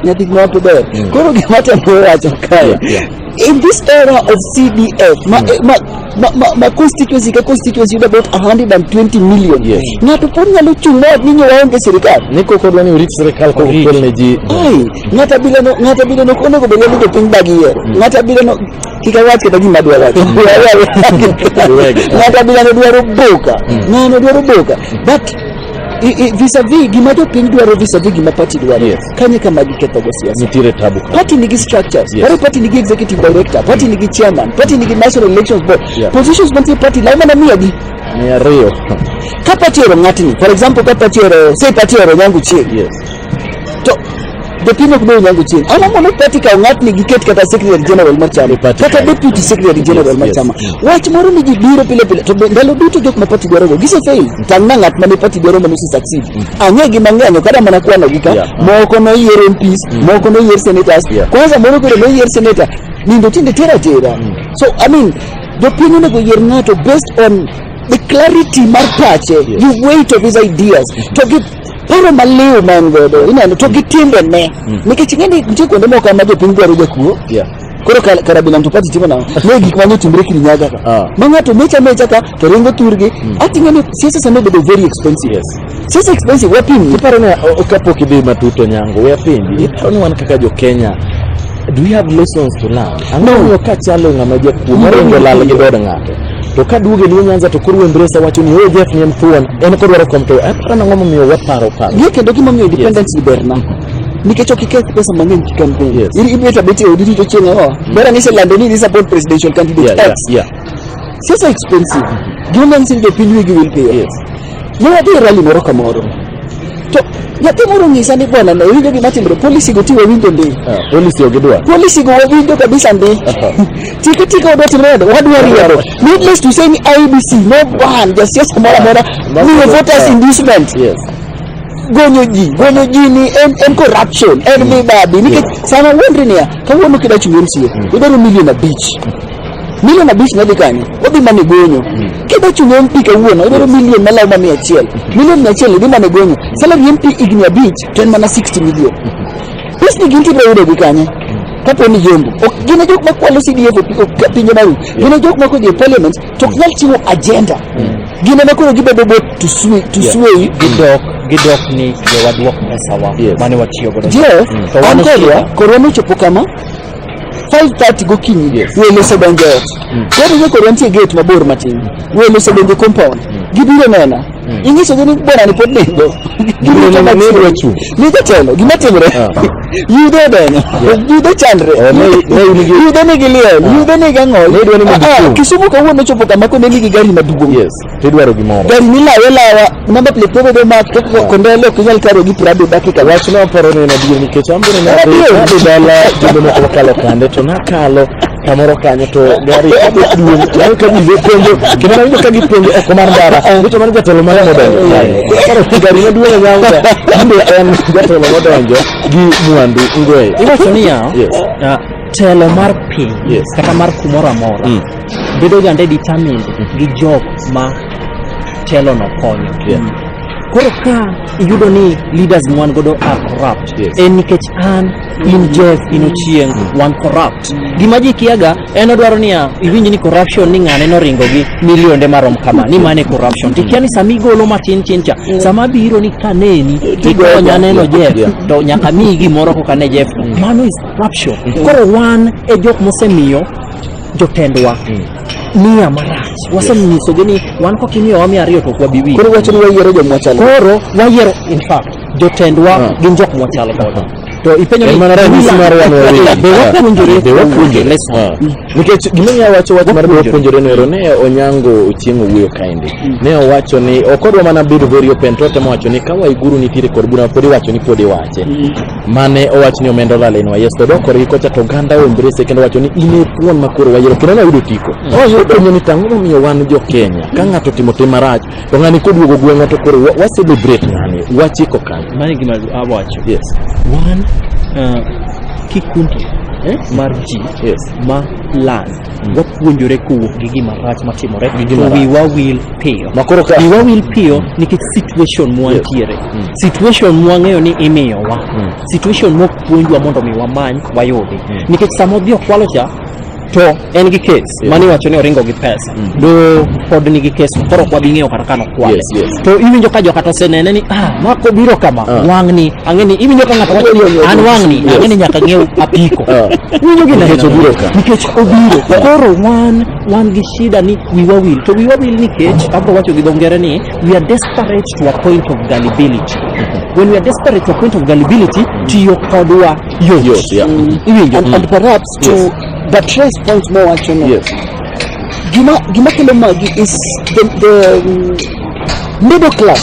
Nyathi ma wapo ber. Mm. Koro gima temo wacho kae. Yeah, yeah. In this era of CDF, ma, mm. ma, ma, ma, ma constituency ka constituency yudo about 120 million. Yes. Ng'ato pod nyalo chung' mawat ni nyowa onge sirikal. Ni koko dwani urit sirikal koko kel ne ji. Ai, ng'ata bilano, ng'ata bilano onego bed ni jopiny bagi yiero. Mm. Ng'ata bilano kik awach kata gima adwa wacho ng'ato abila ne dwaro boka ng'ano dwaro boka but i- i- vis-a-vis gima jopiny dwaro vis-a-vis gima party dwaro Yes. kanyo kama gikethogo siasa nitiere tabu ka party nigi structures Yes. yes. party nigi executive director party nigi chairman party nigi national elections board Yeah. positions mantie party law mana miyagi mia ariyo ka party oro ng'atni for example ka party oro say party oro nyangu chieng yes to jopiny ok dong' nyango chieng' ang'o mondo pati kaw ng'atni giket kata secretary general mar chama Party kata kaw. deputy secretary general mar Yes, chama yes. wach moro ni ji biro pile pile to be- ndalo duto jok ma pati dwarogo gise fail tang' na ng'at mane pati dwaro mane ose succeed ang'e gi mang'eny ok ada mana kwano gi ka Yeah. moko noyier MPs moko noyier senators Yeah. kwanza moro koro noyier senator nindo tinde tera tera so i mean jopiny onego yier ng'ato based on the clarity mar pache the weight of his ideas to gi paro maliw ma en godo ineno to gi timbene nikech ing'e ni nitie kuonde moko ma jopiny dwaro jakuo Yeah. koro kar- karabila to pati timo nang'o ne gik mane otimre kirinyaga ka Ah. ma ng'ato mecha mecha ka to ringo thurgi ati ing'e ni siasa sani obedo very expensive Yes. siasa expensive wapim Iparo ni o- o- kapok idhi matut Onyango, we apenji, iparo ni wan kaka jo Kenya, do we have lessons to learn? Ang'o No. momiyo ka chalo ng'ama jakuo, No. moringo lal gi dod ng'ato? to ka duoge ni Nyanza to koro Embrace wacho ni oh Jeff ni en thuon en kodwaro kom to aparo nang'o momiyo waparo paro Gie kendo gima miyo independence yes. berna nikech ok iketh pesa mang'eny ki campaign yes. iri ibet abet e odi rito chieng' ang'o mm. bera ni iselando ni idhi support presidential candidate yeah, X yeah, yeah. siasa expensive mm -hmm. gima manyiso ni jopiny wigi wil piyo yes. Ne wadhi e rali moro kamoro. To nyathi moro nyisa ni bwana na winjo gima timre polisi go tiwe winjo ndi. Ah, polisi ogidwa. Polisi go winjo kabisa ndi. Tiki tiki wadwa timre wadwa wadwa riero. Needless to say ni IBC no ban jasiasa moro amora Must ni be voters fair. inducement. Yes. gonyo ji gonyo ji ni en, en corruption en mibadhi nikech sama wuondri niya kawuono kidachungi mca idwaro milion abich milion abich ne dhi kanye odhi mana e gonyo kidwa chulo mp kawuono odwaro milion malawo ma mia achiel milion mia achiel idhi mana e gonyo salary mp higni abich to en mana 60 milion pesni gin tibiro yudo gi kanye kapo ni jombo ok gin e jok makwalo cdf e ok ka pinje maru gin e jok makodhi e parliament to ok nyal chiwo agenda gin ema koro gibedo bot to sway to Yeah. sway gidok gidok ni jowadwok pesawa Yes. mane watiyo godo Jeff, To an wano kodwa, chiwo. korwa nochopo kama, five thirty gokinyi welo osedonjo e ot welo ni koro nitie gate mabor matin welo osedonjo e compound gibiro nena inyisogi ni bwana ni pod nindo Gibiro neno ni nidwa chung'. ni jatelo gima timre yudo odenyo yudo chandre Oh, ne- ne in gi- yudo nigi liel yudo nigi ang'ol Nidwa ni mondo Ah, ah, ichung'. kisumu kawuono ochopo kama kone nigi gari maduong' Yes. to idwaro gimoro. Gari milawe lawa, number plate pogo do mak to ko kondele ok inyal karo gi prado dakika. Wach no paro ni na dio nikech ambe na dio dio dala jumbe moko wakalo kande to nakalo kamoro kanyo to gari kabe duong yangu kabe be penjo kendo nawinjo ka gipenjo oko mar ndara nicho mano jatelo mane modonjo karo gari maduong' nyangu ambe en jatelo modonjo gi mwandu ngwe iwacho niya Yes. ah, telo mar piny Yes. kata mar kumoro amora Mm. bedo gande determined gi jok ma telono konyo Yeah. koro ka iyudo ni leaders mwan godo are corrupt Yes. en nikech an in jeff in ochieng wan corrupt gima ji kiaga en odwaro niya iwinj ni corruption ni ng'ane noringo gi milionde marom kama ni mane corruption tikia ni sama igolo matin tin cha sama biro ni kaneni tikonya neno jeff Yeah. to nyaka miyi gimoro koka ne jeff mano is corruption koro wan e jok mosemiyo jotendwa miya marach wasenyiso gi ni wan kok imiyowa miya ariyo to ok wabi winjo koro wacho ni wayiero joma chal koro wayiero in fact jotendwa Ah. gin jok mwachal godo to ipenyo En mana ranyisi mar wan wawegi. be wapuonjore Be wapuonjore. Listen. Ah. nikech gimonya wacho wach mar Wapuonjore. puonjore noero ne onyango ochieng' owuoyo kaendi ne owacho ni ok odwa mana bedo very open to otemo wacho ni ka waiguru nitiere kod bura pod iwacho ni pod iwache mane owach ni omenda olal en wayes to dok korgi kocha to oganda ombrese kendo wacho ni in e thuon ma koro wayero kendo noyudo tiko openjo ni tang'o momiyo wan jo kenya ka ng'ato otimo tim marach to ng'ani koduogo gweng'wa to koro wa- wa celebrate ng'ani wachiko kanyo mano e gima awacho yes wan uh, kikundi eh, mar ji yes ma lal wapuonjore kowuok gi gima rach matimore Gi gima to rach. wiwa wil piyo Makoro ka- wiwa wil piyo nikech situation mwantiere Mm. situation mwang'eyo ni imiyowa Mm. situation mok puonjwa mondo mi wamany wayudi Mm. nikech sama odhi okwalo cha to en gi kes Yeah. mani wacho ni oringo gi pesa Mm. do pod nigi kes koro ok wabi ng'eyo kata kano kwale Yes, yes. to iwinjo ka jokata osenene ni ah mako biro kama Ah. wang'ni ang'e ni iwinjo ka ng'ato wacho Ang'e ni- an wang'ni Yes. ang'e ni nyaka ng'ew apiko Ah. iwinjo gi Nikech neno. obiro ka. nikech obiro koro wan wan gi shida ni wiwa wil to wiwa wil nikech abro wacho gi dho ngere ni we are desperate to a point of gullibility when we are desperate to a point of gullibility tiyo kodwa yot Yot, yeah. iwinjo and, and perhaps to Yes. buttress point more wacho no Yes. gima gima kelo magi is the, the um, middle class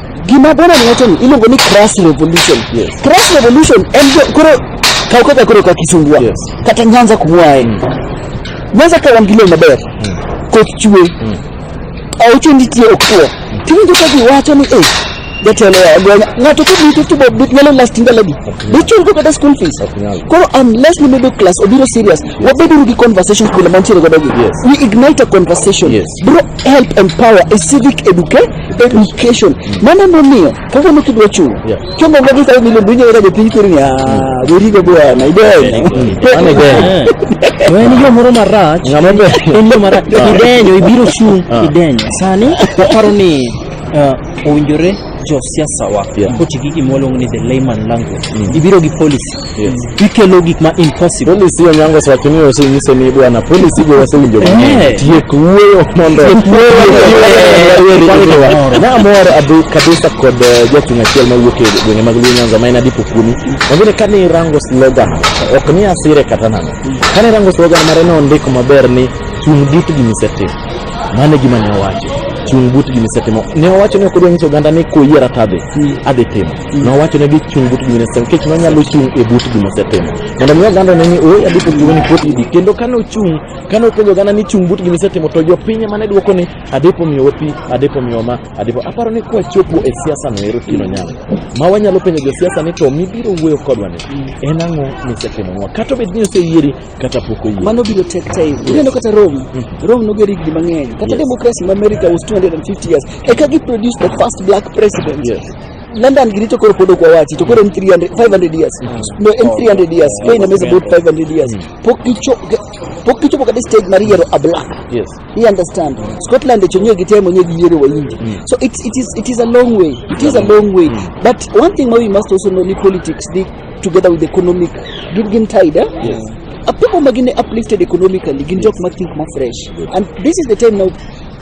Gima bwana ni wacho ni iluongo ni crass revolution. Yes. Crass revolution en jo- koro kaw kaka koro ka kisumbua Yes. kata Nyanza kumwae. Nyanza ka wan gi lowo maber. Koth chwe. Aucho nitie okwo. Tiwinjo ka ji wacho ni eh jatelo ya gwenya ng'ato ka bito to bob nyalo last ndalagi dichul go kata school fees nyal. koro unless ni middle class obiro serious wabeduru gi conversation kuno mantiere godo gi Yes. we ignite a conversation Yes. bro help empower a civic education education mano momiyo kaka ne kidwa chuo Yeah. chomo go gi sababu ile dunyo era jopiny kiri ni ah berigo bwana idenyo Mano idenyo. to en yo moro marach Ng'ama be- en yo marach idenyo ibiro chung' Ah. idenyo sani aparo ni ah, owinjore josiasawa Yeah. koti gi gima waluongo ni the layman language ibiro gi policy Yes. Ikelo gik ma impossible. Polisi Onyango osewacho ni osenyise ni bwana polisi go wasewinjo mang'eny. Eh. Tiek wuoyo mondo Tiek wuoyo. Namor abu kabisa kod eh, jachung' achiel mawuok e gwenge mag Luo Nyanza ma en Adipo Kuni. Wangine kane irango slogan ok ni asire kata nang'o. Kane irango slogan mare ne ondiko maber ni chung' but gima isetimo. Mano e gima ne owacho. Chung' but gima isetimo. Ne owacho ni ok odwa nyiso oganda ni koyiera to adhi. Adhi timo. nowachone gi chung' but gima nosetimo nikech nonyalo chung' e but gima osetimo mondo mi oganda ne ni ooy adhi pok gimani pot idi kendo kane ochung' kane openjo oganda ni chung' but gima isetimo to jopiny mane dwoko ni adhi po miyowa pi adhi po miyowa ma adhi po aparo ni kwachopo e siasa no ero kino nyalo ma wanyalo penjo josiasa ni to mibiro wuoyo kodwa ni en ang'o misetimonwa kata obed ni oseyieri kata pok oyieri mano biro take time ineno kata rome rome noger higni mang'eny kata Yes. democracy ma america was 250 years eka gi produce the first black president Yes. London Giricho koro pod ok wawachi to koro en 300 500 years no en 300 years Kenya is about 500 years pok gicho pok gichopo kata stage mar yiero a black Yes. you understand Scotland echo nyo gitemo nyo giyiero wayindi so it, it is it is a long way it is a long way but one thing we must also know ni politics dey together with economic gin gin tied eh? Yes. A people magine uplifted economically gin jok ma think ma fresh and this is the time now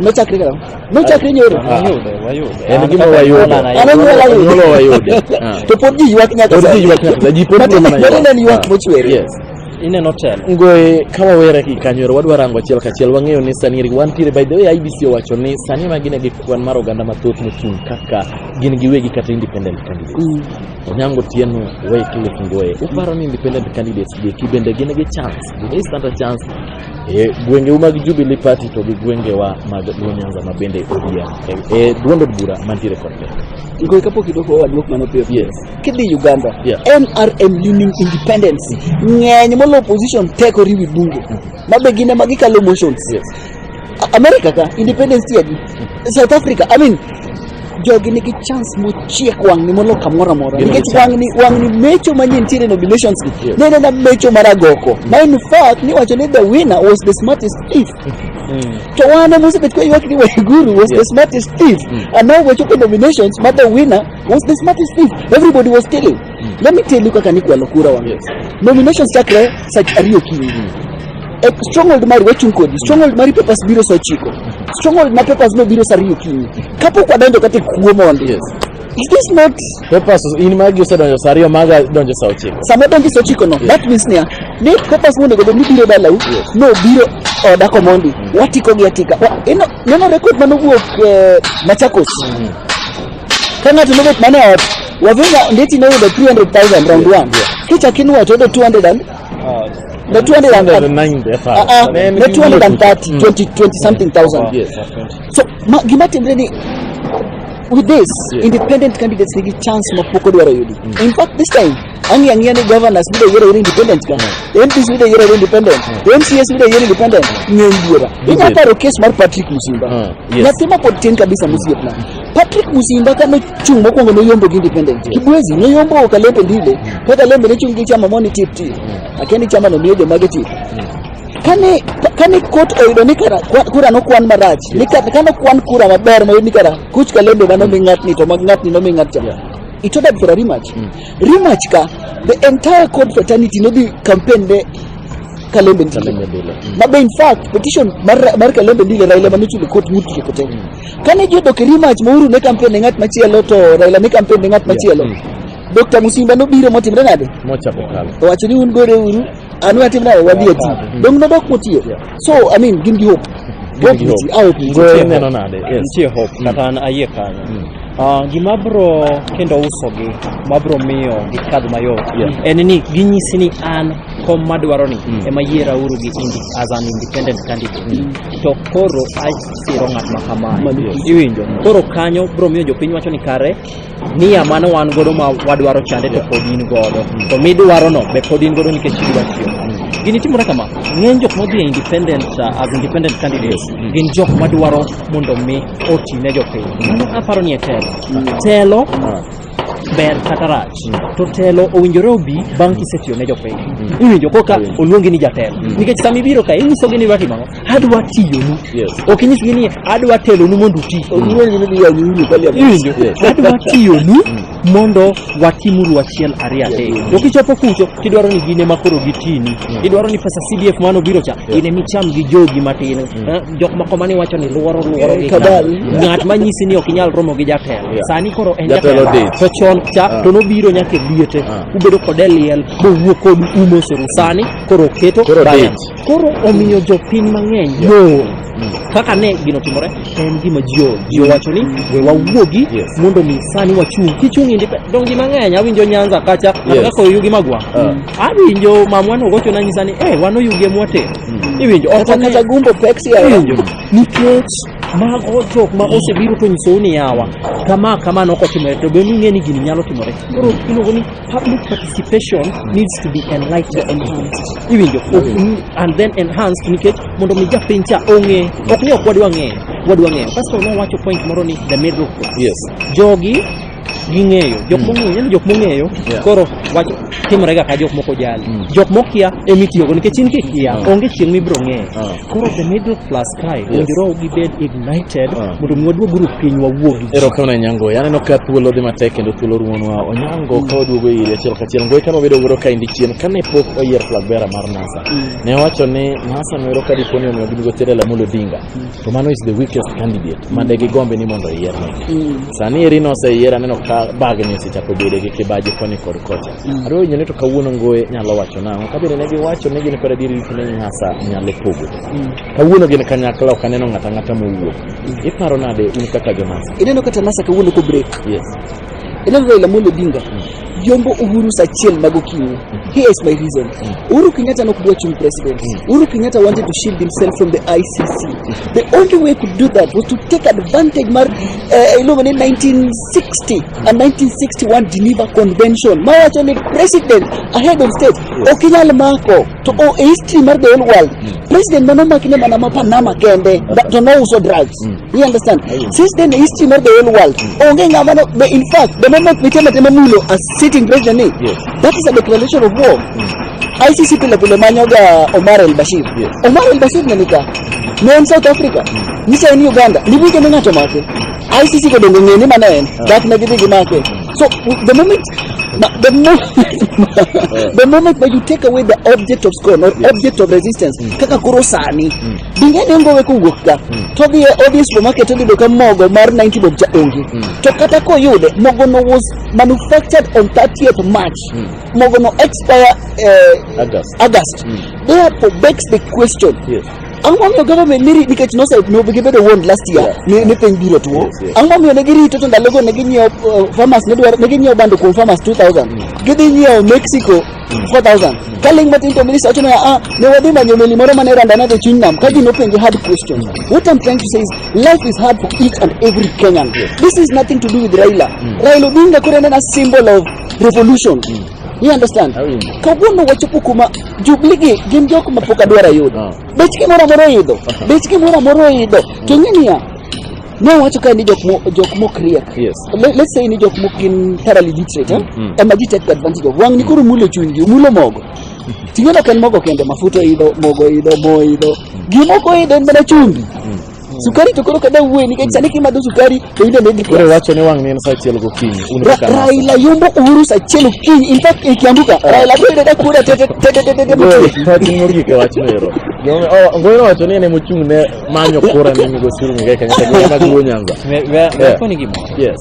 Nochakre kaka nochakre nyoro. Wayude, wayude. En gima wayudo. Ananyuola yudo. Nyuolo wayude. Ah. To pod ji ywak nyaka Pod ji ywak nyaka sani. Ji pod Matiende- mana ywak. matiende en ywak Ah. mochwere. Yes. Ineno telo. Ngoe ka wawere gi kanyoro wadwa rango achiel kachiel wang'eyo ni sani wantiere by the way IBC owacho ni sani ma gine gi kwan mar oganda mathoth mochung' kaka gin giwegi kata independent candidates. Mm. Onyango Tieno, Wycliffe Ngoe, uparo ni independent candidates gi bende gin gi chance? Do they stand a chance e, gwengeu mag Jubilee Party to gi gwengewa mag Luo Nyanza ma bende ODM e, e duond od bura mantiere kod ne Ngoy kapok idoko wadwok mano piyo yes. kidhi Uganda yeah. NRM leaning independence ng'eny molo opposition teko riwi bunge mm -hmm. mabe gine ma gikalo motions yes. America ka independence tiadi mm -hmm. South Africa I mean jogi nigi chance mochiek wang'ni moloyo kamoro amora nikech wang'ni wang'ni mecho manie nitiere nominations gi Yes. ne nena mecho mar agoko ma in fact niwacho ni the winner was the smartest thief to wan ema osebet ka ywak ni waiguru was the Yes. smartest thief and now wechopo nominations ma the winner was the smartest thief everybody was stealing Let me tell you kaka nikwalo kura wa. Yes. Nominations chakre sa ariyo okinyi. E stronghold mari wachung' kodi. Stronghold mari papers biro sa ochiko. Stronghold ma papers no biro sa ariyo okinyi. Kapok wadonjo kata e kuo mondi. Yes. Is this not Papers in magi osedonjo saa ariyo maga donjo saa ochiko. sama donjo sa ochiko no? That means niya, ne papers monego obed ni biro dalau, Yes. no biro oda komondi. Watiko gi atika. Wa- ino- Neno record manowuok eh, Machakos. Ka ng'ato nobet mana e ot, wavinga ndeti noyudo 300,000 round one. Kicha kinwa to yudo 200 and na 200 and Ah, ah, na 230, 20, 20 something thousand. So ma, gima timre ni with this independent candidates nigi chance ma pok odwaro yudi. In fact this time Ang'i ang'iya ni governors biro yiero iri independent ka. MPs biro yiero iri independent. MCAs biro yiero independent. Ng'eny buora. Inya paro case mar Patrick Musimba. Ah, yes. Nyathi ma pod tin kabisa musiepna. Patrick Musimba ka nochung' mokwongo noyombo gi independent. Kibwezi noyombo Kalembe Ndile. Ka Kalembe ne chung' gi chama moni tip tip. Akia ni chama no miyo joma gi tip. Kane kane kot oyudo ni kara kwa- kura nokwan marach. Ni ka- kane okwan kura maber moyud ni kara kuch Kalembe mano mi ng'atni to ma ng'atni no mi ng'atcha. It ordered for a rematch. Rematch ka, the entire code fraternity no dhi campaign ne Kalembe Ndile. Kalembe Ndile. Mm. Mabe in fact, petition mar, mar Kalembe Ndile Raila mane chulo court mut kike kote. Mm. Kane ji odok e rematch ma Uhuru ne campaign ne ng'at machielo to Raila ne campaign ne ng'at machielo. Yeah. Mm. Dr. Musimba nobiro motimre nade? Mochako kalo. Owacho ni un gore uru, anu atimre nade wadhi ati. Mm. Dong nodok motiyo. Yeah. so i mean gin gi hope hope nitie ah, hope nitie Goyo neno nade? Yes. nitie hope kata an ayie kanyo Mm. Ah, gima bro kendo usogi ma bro miyo gikadh mayot Yeah. en ni ginyisi ni an kom madwaro ni Mm. ema yiera uru gi indi as an independent candidate to koro asiro ng'at ma kamae Yes. iwinjo koro kanyo bro miyo jopiny wacho ni kare niya mane wan godo ma wadwaro chande to pod in godo to midwaro no be pod in godo nikech idwa tiyo gini timore kama ng'eny jok modhi e independent uh, as independent candidates gin jok madwaro mondo mi oti ne jopiny mano aparo ni e telo telo ber kata rach to telo owinjore obi bang' kisetiyo ne jopiny iwinjo koka oluongi ni jatelo nikech sama ibiro ka inyisogi ni watimo ang'o adwa tiyonu Yes. ok inyis gi ni adwa telonu mondo uti Iwinjo? adwa tiyonu mondo watimuru achiel ariyo adek to kichopo kucho tidwaro ni gine makoro gitini idwaro ni pesa cdf mano biro cha ine micham gi jogi matin Eh, jok moko mane wacho ni luoro luoro gi kadal. kadal. ng'at manyisi ni ok inyal romo gi jatelo Yeah. sani koro en Jatelo jatelo date. to chon cha Ah. to nobiro nyaka e liete Ah. ubedo kode liel mowuok kodu umosoru sani koro oketo Koro balance. date. Koro omiyo jopiny mang'eny yoo kaka ne gino timore en gima ji o- ji owacho ni we wawuogi Yes. mondo mi sani wachung' kichung' indi pe- dongi mang'eny awinjo nyanza kacha Yes. kata kaka oyugi magwa Ah. awinjo mamwa nogocho nanyisa ni eh wan oyugi emwate iwinjo ok Kata ane- kata gumbo pek si ayo. Iwinjo? nikech mago jok ma osebiro to nyisou ni yawa kama kama nokotimore to be ning'e ni gini nyalo timore koro iluongo ni Public participation needs to be enlightened, enhanced. Even your open and then enhanced nikech mondo mi japiny cha ong'e ok ni ok wadwa ng'eyo wadwa ng'eyo kasto nowacho point moro ni the middle class Yes. jogi ging'eyo jok mong'eyo yani jok mong'eyo Yeah. koro wach timore ga ka jok moko jali Mm. jok mokia emitiyogo nikech in kikia Mm. onge chieng' mibiro ng'eyo Ah. koro the middle class Kae, Yes. owinjore gibed ignited Ah. mondo mi waduog uru piny wawuo gi ji. Erokamano ahinya Ngoyi. Aneno ka thuolo dhi matek kendo thuolo rumonwa. Onyango ka waduogo ire achiel kachiel. Ngoyi kama obedo wuoro ka endi chien kane pok oyier flag bearer mar NASA. Ne owacho ni NASA noero ka dipo ni omiyo ginigo Tere Lamolo Odinga. To mano is the weakest candidate ma de gigombe ni mondo oyier ne. Sani eri noseyier aneno ka bagni osechako bedo gi kibaji koni kod kocha. Adwa winjo ni to kawuono Ngoyi nyalo wacho nang'o. Kabende ne giwacho ni gin kod adieri ni NASA nyalo pogo. Kawuono gin kanyakla ok aneno ng'ata ng'ata mowuok. Iparo nade un kaka jonasa? Ineno kata nasa kawuono ko break. Yes. Ineno Raila Amolo Odinga. Yombo Uhuru saa achiel mag okinyi. Here is my reason. Uhuru Kenyatta nok dwa chung president. Uhuru Kenyatta wanted to shield himself from the ICC. The only way he could do that was to take advantage mar eh, iluongo ni 1960 and 1961 Geneva Convention. Mawacho ni president ahead of state ok inyal mako. to o e history mar the whole world mm. president mane omaki ne mana ma panama kende to no uso drugs mm. you understand mm. since then e history mar the whole world mm. onge ng'ama no the in fact the moment nitie matema mulo as sitting president ni yes. that is a declaration of war mm. ICC pile pile manyoga Omar el Bashir yes. Omar el Bashir ne nika ne en South Africa mm. nicha en Uganda nibuke ne ng'ato make ICC kodongo ng'e ni mana en ah. dak ne gidhi gimake mm. So the moment, the moment, the moment when you take away the object of scorn or object of resistance, kaka koro sani, dinge ne ngowe kowuok ka, to odhi e- odhi e supermarket odhi yudo ka mogo mar 90 bob cha onge. To kata koyude, mogo no was manufactured on 30th March. Mogo no expire eh, August. August. Therefore begs the question, Yes. Ang'o momiyo government ni rit nikech nose no gibedo warned last year Yeah. ni ni piny biro tuo. Yes, yes. Ang'o momiyo ne girito to ndalogo ne ginyiewo uh, farmers ne dwaro ne ginyiewo bando kuom farmers 2000. Gidhi nyiewo Mexico 4000. Ka ling matin to minister wacho ni ah ne wadhi manyo meli moro mane randa ne dhi chuny nam ka ji nopenje hard question. What I'm trying to say is life is hard for each and every Kenyan. This is nothing to do with Raila. Raila Odinga koro en a symbol of revolution. You understand? Awinjo. Kawuono wachopo kuma jubli gi gin jok ma pok adwar ayudo. Ah. Bech gimoro amora oidho. Bech gimoro amora oidho. To ing'e niya, ne wacho kae ni jok mo- jok mok riek. Yes. Le- Let's say ni jok mok gin thoroughly literate. eh? Mm, mm. Ema ji take advantage of. Wang'ni koro mulo chunygi, mulo mogo. Ting'e ok en mogo kende, mafuta oidho, mogo oidho, mo oidho. Gimoko oidho en mana chumbi. Sukari to koro kada wuoye nikech sani kimadho sukari to in be middle Koro class. wacho ni wang' ni en saa achiel gokinyi. Un Ra- kaka nasa. Raila yombo Uhuru saa achiel okinyi. In fact e Kiambu ka Raila to yudo ka kuoda tete tete tete tete Goyo, mochwe. wachni mogik e wachno ero. Gima- oh, Ngoyi nowacho ni en ema ochung' ne manyo kura ne Migosi Uhuru Muigai Kenyatta gi mag Luo Nyanza. Ve- ve- Yeah. Nakoni gima. Yes.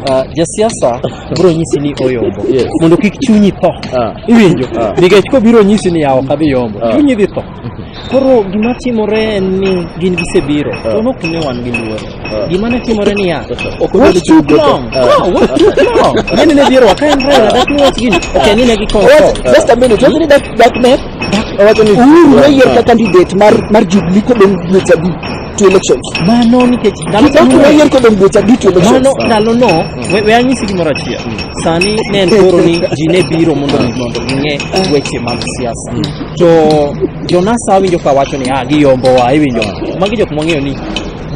Ah, jasiasa biro nyisi ni oyombo Yes. mondo kik chunyi tho Ah. iwinjo Ah. nikech kobiro nyisi ni yawo kadhi yombo Ah. chunyi dhi tho Koro gima timore en ni gin gisebiro, ah. to nok ne wan gi luoro. Ah. Gima ne timore ni ya, ah. ok ne gichung' long. No, what too long? Nene ne biro waka en rela, dak ni wach gini, ok en ni ne gikon. Just a minute, wach ni dak dak ne? Wach ni Uhuru ne yier ka candidate mar mar Jubilee kodong dweche adi to elections. Mano nikech ndalo no. Dak ne yier kodong dweche adi to elections. Mano ndalo no, we anyisi gimoro achiel. Sani ne en koro ni ji ne biro mondo mondo ng'e weche mag siasa. to jonasa winjo ka wacho ni ah giyombowa iwinjo magi jok mwang'eyo ni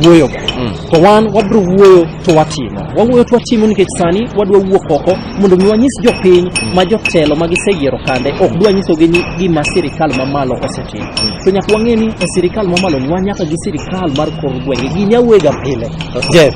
wuoyoga Mm. to wan wabiro wuoyo to watimo wawuoyo to watimo nikech sani wadwa wuok oko mondo mi wanyis jopiny ma jotelo ma giseyiero kande ok dwa nyisogi ni gima sirikal mamalo osetimo to nyaka wang'e ni e sirikal mamalo ni wan nyaka gi sirikal mar kor gwenge ginya wuega pile Jeff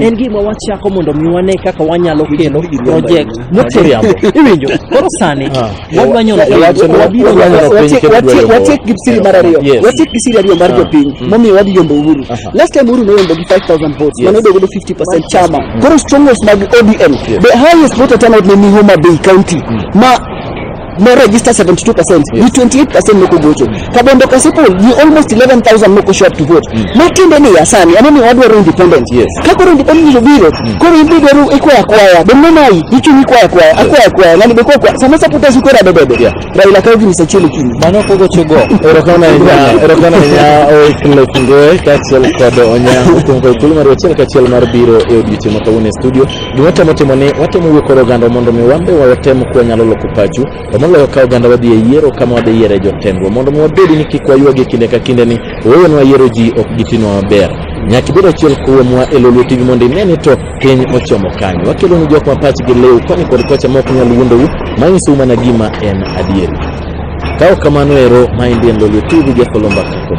en gima wachako mondo mi wane kaka wanyalo kelo project moteriambo iwinjo koro sani ah. wadwanyo watiek gi siri mar ariyo watiek gi siri ariyo mar ah. jopiny mm. momiyo wadhi yombo uhuru last time uhuru noyombo gi 5000 votes mane odogo do 50 chama mm. koro strongholds mag odm the highest voter turnout ne ni homa bay county mm. ma no register 72%, yeah. you 28% no go vote. Kabondo Kasipul, you almost 11,000 no go show up to vote. Mm. Matinde ni yasani, anani wadwaro independence. Yes. Kakoro independence jo biro, mm. koro imbi dwaro ikwaya kwaya, bende nai, ichu ni kwaya kwaya, akwaya kwaya, nani beko kwa, sama sa puta sukura bebebe. Yeah. Raila kayo gini sa chili kini. Mano kogo chogo. Erokana ina, erokana ina, oi kile kingoe, kachiel kodo onya, utungo ikulu maru, chile kachiel maru biro, eo dichimo kawune studio. Gima watemo timo ni watemo wuo kod oganda mondo mi wan be watem kwa nyalo loko pachu to moloyo ka oganda wadhi e yiero kama wadhi yiere jotendwa mondo mi wabed ni kik wayuagi kinde ka kinde ni wewenwa yiero ji ok gitinwa maber nyaka ibed achiel kuomwa e lolwe tv mondo ine ni to piny ochomo kanyo wakelo ni jok ma pachgi lew koni kod kocha ma ok nyal wuondou manyisou mana gima en adieri ka ok kamano ero maendi en lolwe tv jakolomba kakom